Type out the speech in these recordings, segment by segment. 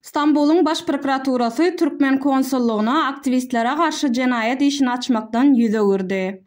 Stambulyň Baş prokuraturasy türkmen konsullygyna aktiwistlere garşy jenaýat işini açmakdan ýüz öwürdi.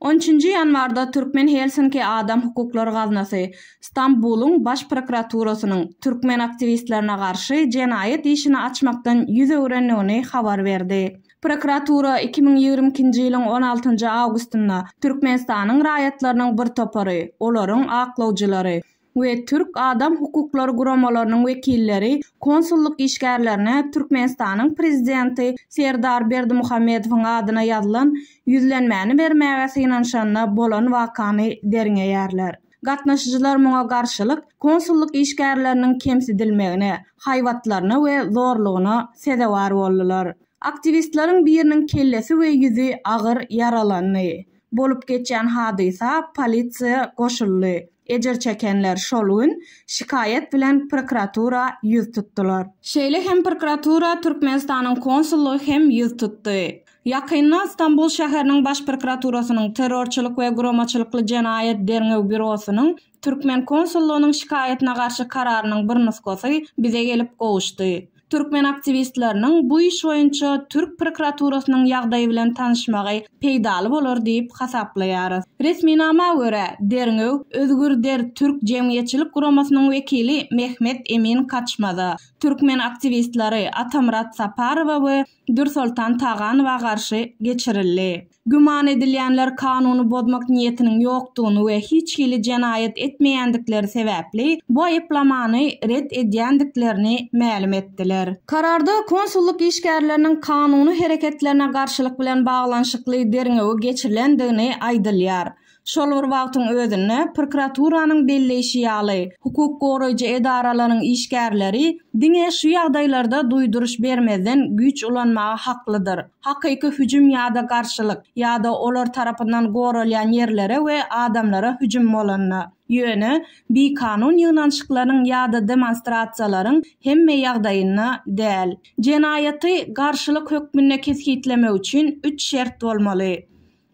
On üçünji ýanwarda Türkmen Helsinki Adam hukuklary gaznasy Stambulyň Baş prokuraturasynyň türkmen aktiwistlerine garşy jenaýat işini açmakdan ýüz öwrendigini habar berdi. Prokuratura iki müň ýigrimi ikinji ýylyň on altynjy awgustynda Türkmenistanyň raýatlarynyň bir topary, olaryň aklawjylary we türk adam hukuklary guramalarynyň wekilleri konsullyk işgärlerine Türkmenistanyň Prezidenti Serdar Berdimuhamedowyň adyna ýazylan ýüzlenmäni bermäge synanyşanda bolan wakany derňeýärler. Gatnaşyjylar muňa garşylyk konsullyk işgärleriniň kemsidilmegine, haýbatlaryna we zorlugyna sezewar boldular. Aktiwistleriň biriniň kellesi we ýüzi agyr ýaralandy. Bolup geçýän hadysa polisiýa goşuldy. Ejir çekenler şol gün şikaýat bilen prokuratura ýüz tutdular. Şeýle hem prokuratura Türkmenistanyň konsullygy hem ýüz tutdy. Ýakynda Stambul şäheriniň Baş prokuraturasynyň Terrorçylyk we guramaçylykly jenaýat derňew býurosynyň türkmen konsullygynyň şikaýatyna garşy kararynyň bir nusgasy bize gelip gowuşdy. Türkmen aktiwistleriniň bu iş boýunça türk prokuraturasynyň ýagdaýy bilen tanyşmagy peýdaly bolar diýip hasaplaýarys. Resminama görä, derňew Özgürder türk jemgyýetçilik guramasynyň wekili Mehmet Emin Kaçmaza, türkmen aktiwistleri Atamyrat Saparowa we Dürsoltan Taganowa garşy geçirildi. Güman edilýänler kanuny bozmak niýetiniň ýokdugyny we hiç hili jenaýat etmeýändikleri sebäpli bu aýyplamany ret edýändiklerini mälim etdiler. Kararda konsullyk işgärleriniň kanuny hereketlerine garşylyk bilen baglanyşykly derňewi geçirilendigini aýdylýar. Şol bir wagtyň özünde, prokuraturanyň belleýşi ýaly, hukuk goraýjy edaralaryň işgärleri diňe şu ýagdaýlarda duýduryş bermezden güýç ulanmaga haklydyr, hakyky hüjüm ýa-da garşylyk, ýa-da olar tarapyndan goralýan ýerlere we adamlara hüjüm bolanda. Ýöne, bikanun ýygnanyşyklaryň ýa-da demonstrasiýalaryň hemme ýagdaýynda däl. Jenaýaty garşylyk hökmünde kesgitlemek üçin üç şert bolmaly.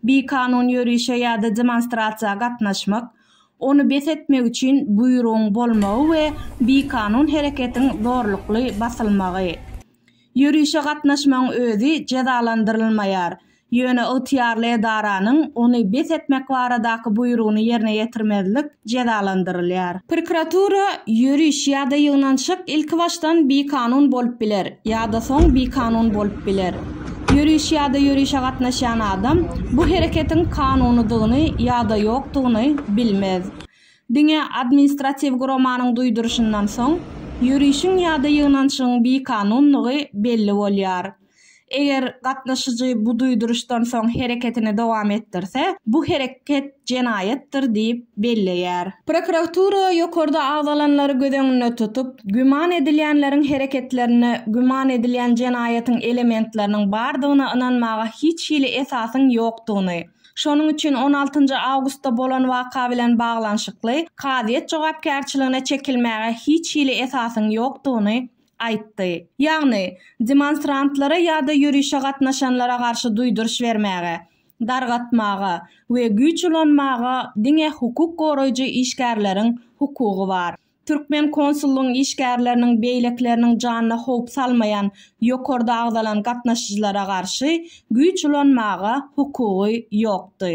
Bikanun ýörişe ýa-da demonstrasiýa gatnaşmak, ony bes etmek üçin buýrugyň bolmagy we bikanun hereketiň zorlukly basylmagy. Ýörişe gatnaşmagyň özi jezalandyrylmaýar, ýöne ygtyýarly edaranyň ony bes etmek baradaky buýrugyny ýerine ýetirmezlik, jezalandyrylýar. Prokuratura, ýöriş ýa-da ýygnanşyk ilkibaşdan bikanun bolup biler ýa-da soň bikanun bolup biler. Ýöriş ýa-da ýörişe gatnaşýan adam bu hereketiň kanunydygyny ýa-da ýokdugyny bilmez. Diňe administratiw guramanyň duýduryşyndan soň, ýörişiň ýa-da ýygnanşygyň bikanundygy belli bolýar. Eger gatnaşyjy bu duýduryşdan soň hereketini dowam etdirse, bu hereket jenaýatdyr diýip belleýär. Prokuratura ýokarda agzalanlary göz öňünde tutup, güman edilýänleriň hereketlerinde güman edilýän jenaýatyň elementleriniň bardygyna ynanmaga hiç hili esasyň ýokdugyny, şonuň üçin on altynjy awgustda bolan waka bilen baglanyşykly kazyýet jogapkärçiligine çekilmäge hiç hili esasyň ýokdugyny aýtdy. Ýagny, demonstrantlara ýa-da ýörişe gatnaşanlara garşy duýduryş bermäge, dargatmaga we güýç ulanmaga diňe hukuk goraýjy işgärleriň hukugy bar. Türkmen konsullygyň işgärleriniň beýlekileriniň janyna howp salmaýan ýokarda agzalan gatnaşyjylara garşy güýç ulanmaga hukugy ýokdy.